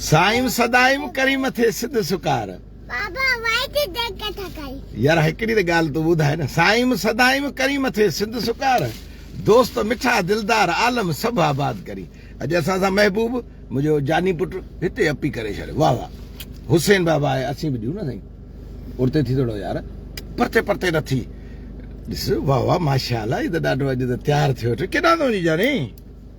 سائيم سدائيم ڪري مٿي سڌ سڪار. بابا وائٽ ڊيڪ ڪٿا ڪري. يار هڪڙي ته ڳالهه تون ٻڌاء نه. سائيم سدائيم ڪري مٿي سڌ سڪار. دوست مٺا دلدار عالم سڀ آباد ڪري. اڄ اسان سان محبوب منهنجو جاني پٽ هتي اپي ڪري ڇڏيو واه واه حسين بابا آهي اسين به ڏيون نه سائين ارتي ٿي ٿورو يار پرتي پرتي نه ٿي ڏس واه واه ماشاء الله هي ته ڏاڍو اڄ ته تيار ٿيو ٿو ڪيڏانهن ٿو وڃي جاني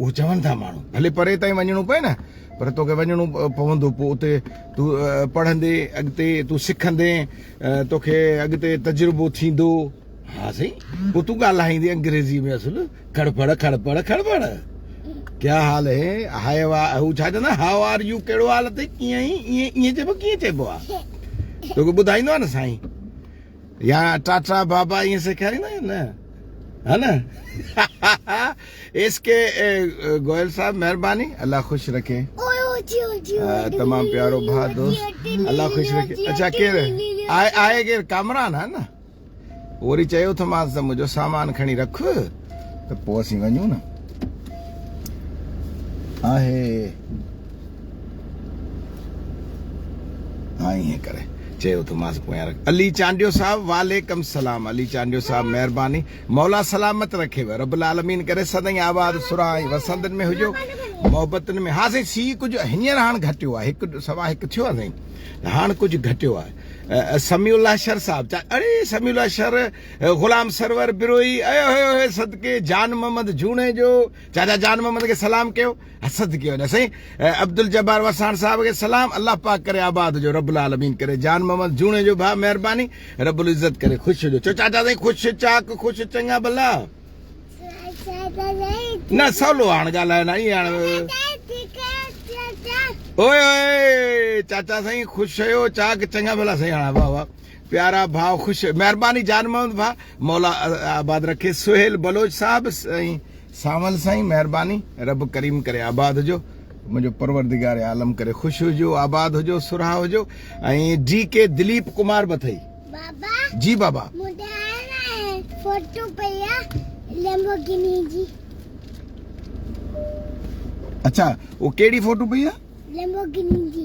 اهو چون ٿا ماڻهو ڀلي پري تائين وڃڻو پئي نه پر توکي وڃڻو پوندو پوء اتي تون پڙهندي اڳتي تون سکندي توکي اڳتي تجربو ٿيندو ها سائين پوء تون ڳالهائيندي انگريزي ۾ اصل کڙ پڙ کڙ پڙ کڙ پڙ ڪيا حال هي هاء وا هو ڇا چوندا هاء آر يو ڪهڙو حال اٿئي ڪيئن آهين ائين ائين چئبو ڪيئن چئبو آ توکي ٻڌائيندو آ نه سائين يا ٽاٽا بابا ائين سيکاريندا آهن نه ها نه ايس ڪي گوئل صاحب مهرباني الله خوش رکي تمام پيارو ڀا دوست الله خوش رکي اچھا ڪير آهي ڪير ڪامران ها نه وري چيو ٿمانس ته منهنجو سامان کڻي رک ته پوء اسين وڃون نه. آهي ها ائين ڪري چي اٿومانس پويان رک. علي چانڊيو صاحب وعليڪم سلام علي چانڊيو صاحب مهرباني مولا سلامت رکيو رب العالمين ڪري سدائين آباد سرها ۽ وسندن ۾ هجو محبتن ۾ ها سائين سي ڪجهه هينئر هاڻ گهٽيو آهي هڪ سوا هڪ ٿيو آهي سائين هاڻ ڪجهه گهٽيو آهي سميع الله شر صاحب اڙي سميع الله شر غلام سرور بروهي، اي هوء هوء صدقي جان محمد جوڻيجو، چاچا جان محمد کي سلام ڪيو، صدقي وڃان سائين عبدالجبار وساڻ صاحب کي سلام، الله پاڪ ڪري آباد هجو، رب العالمين ڪري جان محمد جوڻيجو ڀاء مهرباني، رب العزت ڪري خوش هجو، چؤ چاچا سائين خوش چاڪ خوش چڱا ڀلا. نه سولو هاڻ ڳالهاء نه ائين هاڻ. اوء هوء چاچا سائين خوش هيو چاڪ چڱا ڀلا سائين هاڻ واهه واهه. پيارا ڀاء خوش مهرباني جان محمد ڀاء مولا آباد رکي سهيل بلوچ صاحب سائين سانول سائين مهرباني رب ڪريم ڪري آباد هجو منهنجو پروردگار عالم ڪري خوش هجو آباد هجو سرها هجو ۽ ڊي ڪي دليپ ڪمار به اٿئي بابا جي بابا فوٽو پيا لمبورگيني جي اچھا او ڪهڙي فوٽو پيا لمبورگيني جي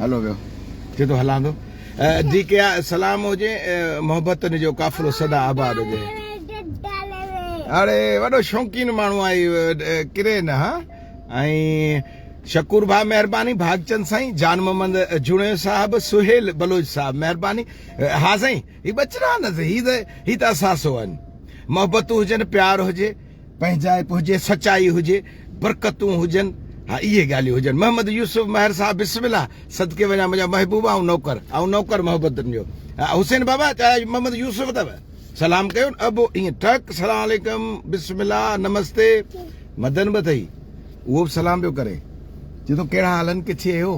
هلو ويو ٿي ٿو هلاندو جي ڪيا سلام هجي محبتن جو قافلو سدا آباد هجي اڙي وڏو شوقين ماڻهو آهي ڪري نه ها ۽ شکور بھا مهرباني بھاگچند سائين جان محمد جوڻي صاحب سهيل بلوچ صاحب مهرباني ها سائين هي بچرا نه هي ته هي ته اساسو آهن محبتون هجن پيار هجي پنهنجائپ هجي، سچائي هجي، برڪتون هجن، ها اهي ڳالهيون هجن. محمد يوسف مهر صاحب بسم الله صدقي وڃان منهنجا محبوب آئون نوڪر آئون نوڪر محبتن جو ها حسين بابا چاهي اڄ محمد يوسف اٿو سلام ڪيو ابو ائين ٽڪ سلام عليڪم بسم الله نمستي مدن به اٿئي اهو به سلام پيو ڪري چي ٿو ڪهڙا حالن ڪٿي اهو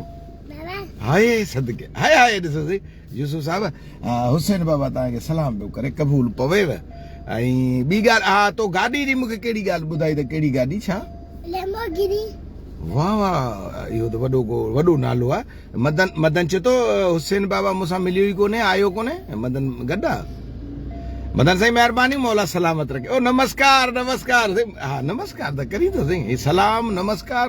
هاي صدقي هاي هاي ڏسو سي يوسف صاحب حسين بابا توهان کي سلام پيو ڪري قبول پويو ۽ ٻي ڳالهه ها تو گاڏي جي مون کي ڪهڙي ڳالهه ٻڌائي ته ڪهڙي گاڏي ڇا ليمبورگيني واهه واهه اهو ته وڏو ڪو وڏو نالو آ مدن مدن چي ٿو حسين بابا مون سان مليو ئي ڪونهي آيو ڪونهي مدن گڏ آ مدن سائين مهرباني مولا سلامت رکي او نمسڪار نمسڪار ها نمسڪار ته ڪري ٿو سائين سلام نمسڪار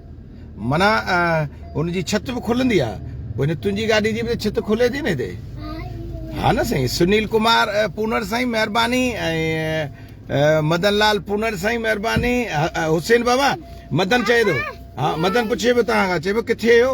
منا ان جي ڇت به کلندي آ وڃي تنهنجي گاڏي جي به ڇت کلي ٿي نه هتي ها نه سائين سنيل ڪمار پونر سائين مهرباني ۽ مدن لال پونر سائين مهرباني حسين بابا مدن چئي ٿو ها مدن پڇي به تان کان چئي به ڪٿي هيو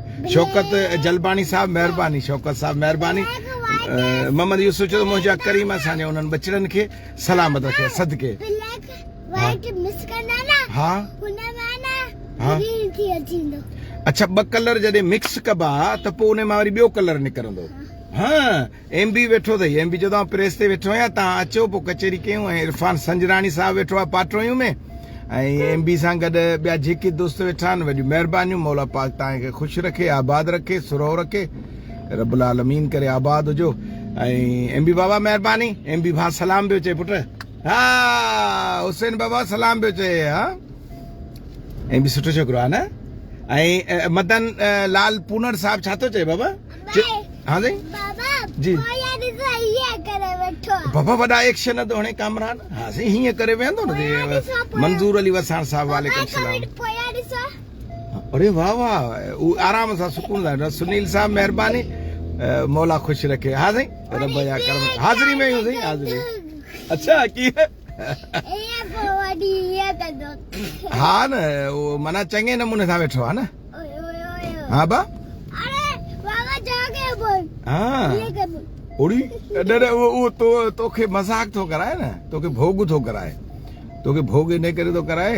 شوڪت جلباڻي صاحب مهرباني شوڪت صاحب مهرباني محمد يوسف چيو منهنجا ڪريم اسان جي انهن بچڙن کي سلامت رکي صدقي ها ها اچھا ٻه ڪلر جڏهن مڪس ڪبا ته پوء ان مان وري ٻيو ڪلر نڪرندو ها ايم بي ويٺو اٿئي ايم بي چيو ته آئون پريس تي ويٺو آهيان تهان اچو پوء ڪچهري ڪيون ۽ عرفان سنجراڻي صاحب ويٺو آهي پاٽوهيون ۾ ۽ ايم بي سان گڏ ٻيا جيڪي دوست ويٺا آهن وڏيون مهربانيون مولا پاڪ تهان کي خوش رکي آباد رکي سرهو رکي رب العالمين ڪري آباد هجو ۽ ايم بي بابا مهرباني ايم بي ڀا سلام بيو چئي پٽ ها حسين بابا سلام بيو چئي ها ايم بي سٺو ڇوڪرو آهي نه ۽ مدن لال پونر صاحب ڇا ٿو چئي بابا ها سائين جي بابا وڏا ايڪشن ٿو هڻي ڪامران ها سائين هيئن ڪري ويهندو نه منظور علي وساڻ صاحب وعليڪم السلام اري واهه واهه هو آرام سان سڪون لاء سنيل صاحب مهرباني مولا خوش رکي ها سائين رب جا ڪرم حاضري ۾ هيون سائين حاضري اچھا ڪي ها نه منا چڱي نموني سان ويٺو آ نه ها با اري بابا جا ڪي بول ها اڙي ڏڏ او تو توکي مذاق ٿو ڪرائي نه توکي ڀوڳ ٿو ڪرائي توکي ڀوڳ نه ڪري ٿو ڪرائي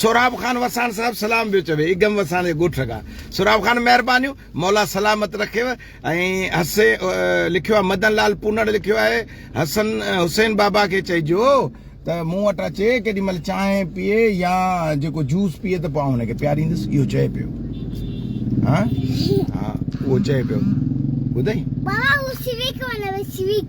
سهراب خان وساڻ صاحب سلام پيو چوي اگم وساڻ جي ڳوٺ کان سهراب خان مهربانيون مولا سلامت رکيو ۽ حسي لکيو آهي مدن لال پونڙ لکيو آهي حسن حسين بابا کي چئجو ته مون وٽ اچي ڪيڏي مهل چانهه پيئي يا جيڪو جوس پيئي ته پوء هن کي پياريندس اهو چئي پيو ها ها اهو چئي پيو ٻڌئي بابا هو سويڪ ونوي سويڪ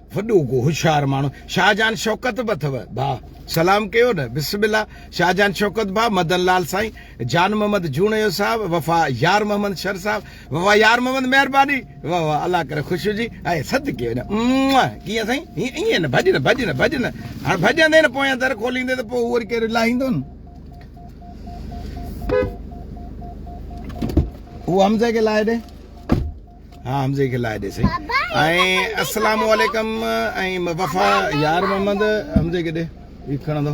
وڏو ڪو هوشيار ماڻهو شاهجهان شوڪت به اٿو ڀاء سلام ڪيو نه بسم الله شاهجهان شوڪت ڀاء مدن لال سائين جان محمد جوڻيو صاحب وفا يار محمد شر صاحب وفا يار محمد مهرباني واهه واهه الله ڪري خوش هجي اي سد ڪيو نه ڪيئن سائين هي ائين نه ڀڄ نه ڀڄ نه ڀڄ نه هاڻ ڀڄندي نه پويان در کوليندي ته پوء وري ڪير لاهيندو نه هو حمزه کي لاهي ڏي ها حمزي کي لائي ڏي سائين ۽ السلام عليڪم ۽ وفا يار محمد حمزي کي ڏي هي کڻندو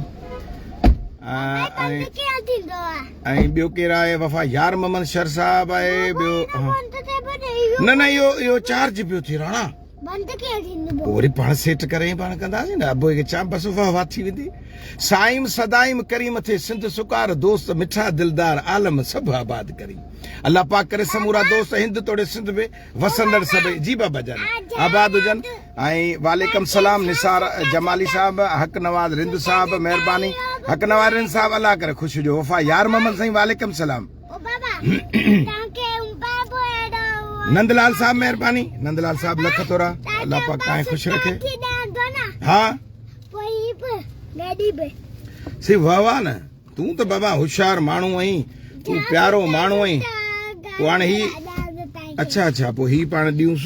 ۽ ٻيو ڪير آهي وفا يار محمد شر صاحب آهي ٻيو نه نه اهو اهو چارج پيو ٿي راڻا بند کي ٿيندو پو وري پاڻ سيٽ ڪري پاڻ ڪنداسين نه ابو کي چام بس واه واه ٿي ويندي سائيم سدائيم ڪريم ٿي سنڌ سڪار دوست مٺا دلدار عالم سڀ آباد ڪري الله پاڪ ڪري سمورا دوست هند توڙي سنڌ به وسندڙ سڀ جي بابا جان آباد هجن ۽ وعليڪم سلام نثار جمالي صاحب حق نواز رند صاحب مهرباني حق نواز رند صاحب الله ڪري خوش هجو وفا يار محمد سائين وعليڪم سلام نندلال صاحب مهرباني نندلال صاحب لک ٿورا الله پاک تائیں خوش رکي ها سي واھ واھ نه تون ته بابا هوشيار ماڻهو آهين تون پيارو ماڻهو آهين پوء هاڻي هي اچھا اچھا پوء هي پاڻ ڏيونس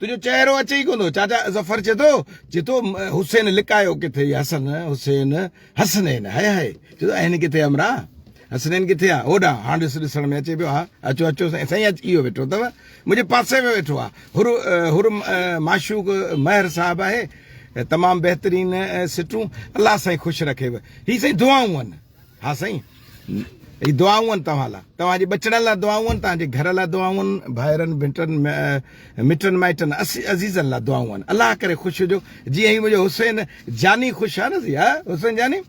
تنهنجو چهرو اچي ئي ڪو نه چاچا ظفر چي ٿو چي ٿو حسين لڪايو ڪٿي حسن حسين حسنين هاي هاي چي ٿو اهن ڪٿي امرا حسنين ڪٿي آ هوڏا هاڻ ڏس ڏسڻ ۾ اچي پيو ها اچو اچو سائين سائين اچ اهو ويٺو اٿو منهنجي پاسي ۾ ويٺو آ هر هر معشوق مهر صاحب آهي تمام بهترين سٽون الله سائين خوش رکيو هي سائين دعائون آهن ها سائين هي دعائون آهن توهان لا توهان جي ٻچڙن لا دعائون آهن توهان جي گهر لا دعائون آهن ڀائرن ڀٽن مٽن مائٽن عزيزن لا دعائون آهن الله ڪري خوش هجو جي هي منهنجو حسين جاني خوش آهي نه سي ها حسين جاني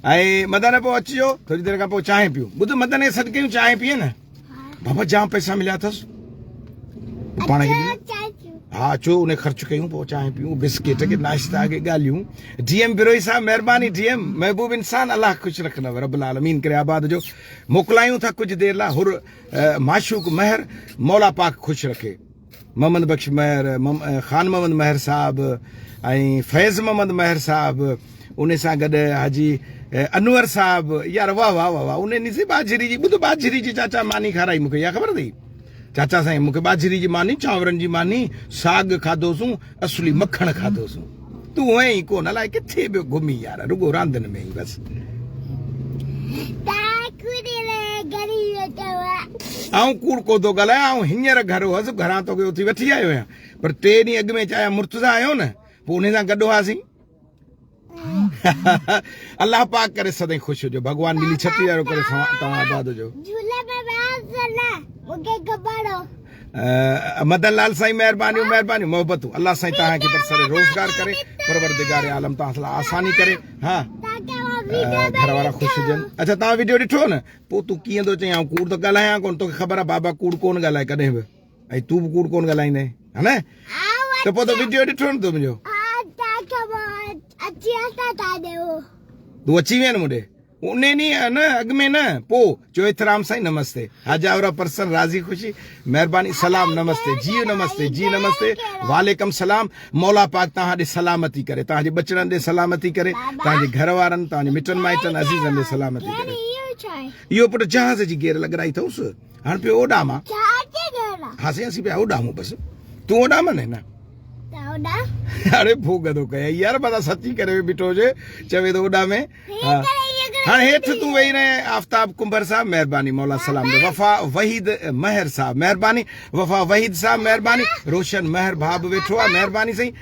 ۽ مدن پو اچجو ٿوري دير کان پو چانهه پيون ٻڌ مدن کي سڏ ڪيون چانهه پيئي نه بابا جام پيسا مليا اٿس پاڻ کي ها اچو ان خرچ ڪيون پوء چانهه پيون بسڪيٽ کي ناشتا کي ڳالهيون ڊي ايم بروهي صاحب مهرباني ڊي ايم محبوب انسان الله خوش رکندو رب العالمين ڪري آباد جو موڪلايون ٿا ڪجهه دير لا هر معشوق مهر مولا پاڪ خوش رکي محمد بخش مهر، خان محمد مهر صاحب ۽ فيض محمد مهر صاحب ان سان گڏ حاجي انور صاحب يار واهه واهه واهه ان ني سي باجري جي ٻڌ باجري جي چاچا ماني کارائي مونکي يا خبر اٿئي چاچا سائين مونکي باجري جي ماني چانورن جي ماني ساڳ کاڌوسون اصلي مکڻ کاڌو سو تون ائين ئي ڪون الائي ڪٿي پيو گهمين يار رڳو راندن ۾ ئي بس آئون ڪوڙ ڪو ٿو ڳالهايان آئون هينئر گهر هوس گهران توکي اٿي وٺي آيو آهيان پر ٽي ڏينهن اڳ ۾ چاهيان مرتضا آيو نه پوء ان سان گڏ هئاسين الله پاڪ ڪري سدائين خوش هجو ڀڳوان ملي ڇٽي وارو ڪري توهان آباد هجو جھولي ۾ وياس نه مونکي گبڙو مدن لال سائين مهربانيون مهربانيون محبتون الله سائين توهان کي برسر روزگار ڪري پروردگار عالم توهان لاء آساني ڪري ها گھر وارا خوش هجن اچھا توهان ويڊيو ڏٺو نه پوء تون ڪيئن ٿو چئين آئون ڪوڙ ٿو ڳالهايان ڪون توکي خبر آ بابا ڪوڙ ڪون ڳالهائي ڪڏهن به ۽ تون به ڪوڙ ڪون ڳالهائيندين ها نه ته پوء ته وڊيو ڏٺو نه تو منهنجو تون اچي وين مون ڏي ان ڏينهن نه اڳ ۾ نه پو چو احترام سائين نمستي هاجاورا پرسن راضي خوشي مهرباني سلام نمستي جي نمستي جي نمستي وعليڪم سلام مولا پاڪ تان ڏي سلامتي ڪري تان جي بچڙن ڏي سلامتي ڪري تان جي گهر وارن تان جي مٽن مائٽن عزيزن ڏي سلامتي ڪري ايو پٽ جهاز جي گير لڳرائي ٿوس هاڻ پيو اوڏاما هاسي هاسي پيا اوڏامو بس تون اوڏاما نه نه اڙي ڀوڳ ٿو ڪيا يار بس سچي ڪري وي بيٺو جي چوي ٿو اوڏا ۾ هاڻ هيٺ تون ويهي رهي آفتاب ڪنڀر صاحب مهرباني مولا سلام دي وفا وحيد مهر صاحب مهرباني وفا وحيد صاحب مهرباني روشن مهر ڀاء به ويٺو آ مهرباني سائين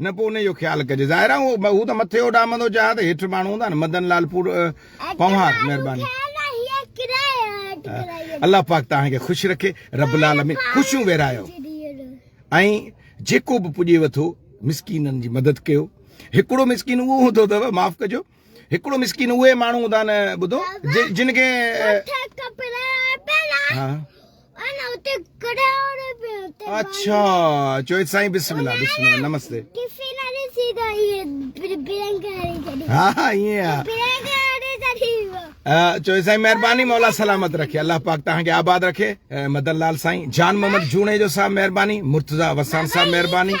نه پوء انهيء جو خيال ڪجي. ظاهر آهي هو ته مٿي اڏامندو چاهي ها ته هيٺ ماڻهو هوندا نه. مدن لال پنهوار مهرباني. الله پاڪ توهان کي خوش رکي. رب العالمين خوشيون ويرهايو ۽ جيڪو به پڄيو ٿو مسڪينن جي مدد ڪيو. هڪڙو مسڪين اهو هوندو اٿو معاف ڪجو. هڪڙو مسڪين اهي ماڻهو هوندا نه ٻڌو جن کي اچھا چوي سائين بسم الله بسم الله نمسته ها ها ائين چوي سائين مهرباني مولا سلامت رکي الله پاڪ تان کي آباد رکي مدن لال سائين جان محمد جوڻي جو صاحب مهرباني مرتضا وسان صاحب مهرباني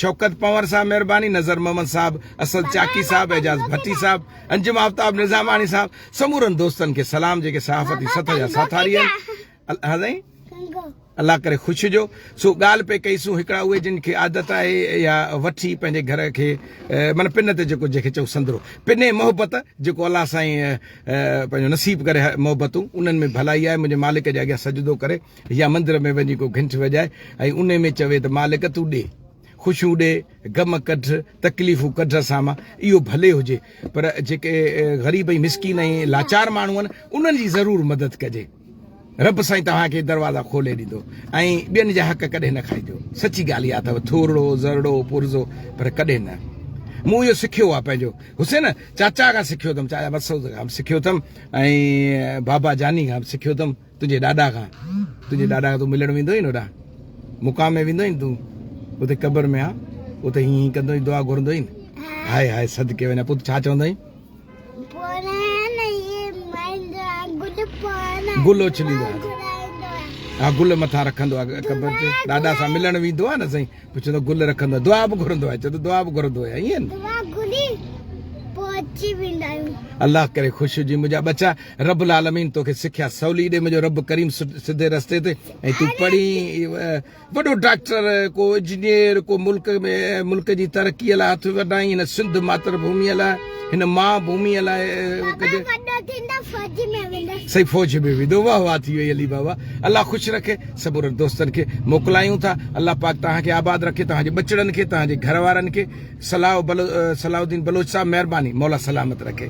شوڪت پنور صاحب مهرباني نظر محمد صاحب اسد چاڪي صاحب اعجاز ڀٽي صاحب انجم آفتاب نظاماڻي صاحب سمورن دوستن کي سلام جيڪي صحافتي سطح جا ساٿاري آهن الله سائين الله ڪري خوش هجو سو ڳالهه پئي ڪئي سون هڪڙا اهي جن کي عادت آهي يا وٺي پنهنجي گهر کي من پن تي جيڪو جنهنکي چئو سندرو پني محبت جيڪو الله سائين پنهنجو نصيب ڪري محبتون انهن ۾ ڀلائي آهي منهنجي مالڪ جي اڳيان سجدو ڪري يا مندر ۾ وڃي ڪو گھنٽ وڄائي ۽ ان ۾ چوي ته مالڪ تون ڏي خوشيون ڏي، غم ڪڍ، تڪليفون ڪڍ اسان مان، اهو ڀلي هجي، پر جيڪي غريب ۽ مسڪين ۽ لاچار ماڻهو آهن، انهن جي ضرور مدد ڪجي. رب سائين توهان کي دروازا کولي ڏيندو ۽ ٻين جا حق ڪڏهن نه کائينديو. سچي ڳالهه اها اٿئو، ٿورڙو، ذرڙو، پرزو، پر ڪڏهن نه. مون اهو سکيو آهي پنهنجو حسين چاچا کان سکيو اٿم، چاچا مسعود کان به سکيو اٿم ۽ بابا جاني کان به سکيو اٿم. تنهنجي ڏاڏا کان تنهنجي ڏاڏا کان تون ملڻ ويندو هئين هوڏا مقام ۾ ويندو هئين تون اتي قبر ۾ آن اتي هين هين ڪندو هئين دعا گهرندو هئين هاء هاء صدقي وڃان پوت ڇا چوندو هئين گل اڇليندو آهي ها گل مٿان رکندو آهي قبر تي ڏاڏا سان ملڻ ويندو آهي نه سائين پوء چوندو آهي گل رکندو آهي دعا به گهرندو آهي چوندو دعا به گهرندو آهي ائين دعا گهري پوء اچي ويندا آهيون الله ڪري خوش هجين منهنجا ٻچا رب العالمين توکي سکيا سولي ڏي منهنجو رب ڪريم سڌي رستي تي ۽ تون پڙهي وڏو ڊاڪٽر ڪو انجنيئر ڪو ملڪ ۾ ملڪ جي ترقي لاء هٿ وڏائين هن سنڌ ماتر ڀومي لاء هن ماء ڀومي لاء سهي فوج ۾ ويندو واهه واهه ٿي وئي علي بابا الله خوش رکي سڀ رڙ دوستن کي موڪلايون ٿا الله پاڪ توهان کي آباد رکي توهان جي ٻچڙن کي توهان جي گهر وارن کي صلاح صلاح الدين بلوچ صاحب مهرباني مولا سلامت رکي.